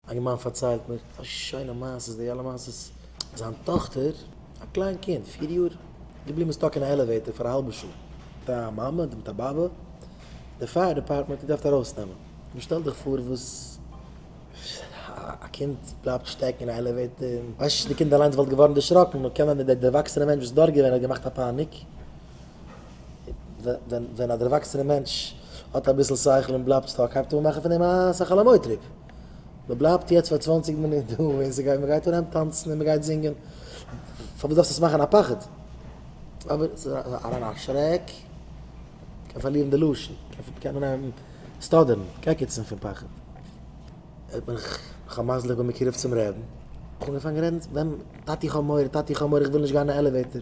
א געמאן פארציילט מיר א שיינע מעשה, די אלע מעשות, זיין טאכטער, א קליין קינד פיר יאר, געבליבן סטאק אין א עלעוועיטער פאר א האלבע שעה, מיט א מאמע אדער מיט א באבע, די פייער דעפארטמענט האט געדארפט ארויסנעמען, נו שטעל דיך פאר וואס א קינד בלייבט שטעקן אין א עלעוועיטער, און ווייסט נישט, די קינד אליינס וואלט געווארן דערשראקן, נאר קען זיין די דערוואקסענע מענטש וואס איז דארט געווען האט געמאכט א פאניק. ווען א דערוואקסענע מענטש האט אביסל שכל און בלייבט סטאק הייבט אן מאכן פון אים א שכל המוטריף, מען בלייבט יעצט פאר צוואנציג מינוט דא און ס'גייט מען גייט אן היים טאנצן און מען גייט זינגען, פארוואס דארפסט עס מאכן א פחד? אבער עס איז אריין א שרעק, קען פארלירן די לשון, קען אנהייבן סטאדערן, קעקעצן פון פחד, האט מען חמאס'ליך בין מקורב צום רעבן, אנגעפאנגען רעדן, טאטי איך האב מורא, טאטי איך האב מורא איך וויל נישט גיין אין די עלעוועיטער.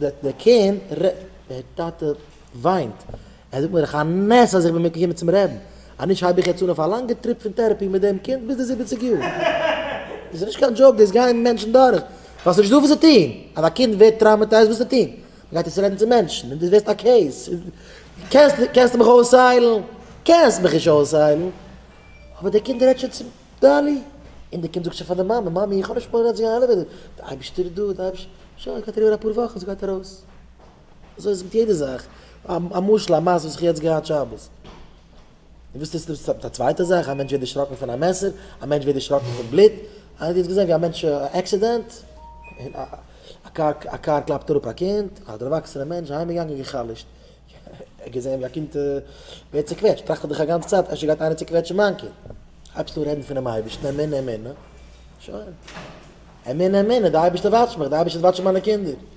דער קינד רע. דער טאטע וויינט. ער זאגט מיר איך א נס אז איך בין געקומען צום רעבן. אז נישט הייב איך יעצט אן אויף א לאנגע טריפ פון טערעפי מיט דעם קינד ביז די זיבעציג יאר. דאס איז נישט קיין דזשאוק, דאס גייען מענטשן דורך ווייל ס'נישט דא וואס צו טון. אז א קינד ווערט טראומעטייזד וואס צו טון? מ'גייט יעצט רעדן צו מענטשן און דו ווערסט א קעיס. קענסט מיך אויסהיילן? קענסט מיך נישט אויסהיילן. אבער דער קינד רעדט שוין צו. דאלי! און די קינד זאגט שוין פאר די מאמע, מאמי איך האב נישט מורא אז די עלעוועיטער, די אייבישטער איז דא, די אייבישטער, שוין עס גייט אריבער אפאר וואכן עס גייט ארויס. אזוי איז מיט יעדע זאך, א משל א מעשה וואס איך יעצט געהאט שבת. דו ווילסט יעצט ניצן מיט א צווייטע זאך, א מענטש ווערט דערשראקן פון א מעסער, א מענטש ווערט דערשראקן פון בלוט, איינער האט יעצט געזען ווי א מענטש עקסידענט, א קאר קלאפט אראפ א קינד, א דערוואקסענע מענטש, אהיימגעגאנגען גע'חלש'ט, כ'האב געזען ווי א קינד ווערט צוקוועטשט, טראכט ער דאך א גאנצע צייט, אפשר גייט איינער צוקוועטשן מיין קינד. הייבסט אן רעדן פונעם אייבערשטן, אמונה אמונה, שוין. אמונה אמונה, די אייבערשטער וואטשט מיך, די אייבערשטער וועט וואטשן מיינע קינדער.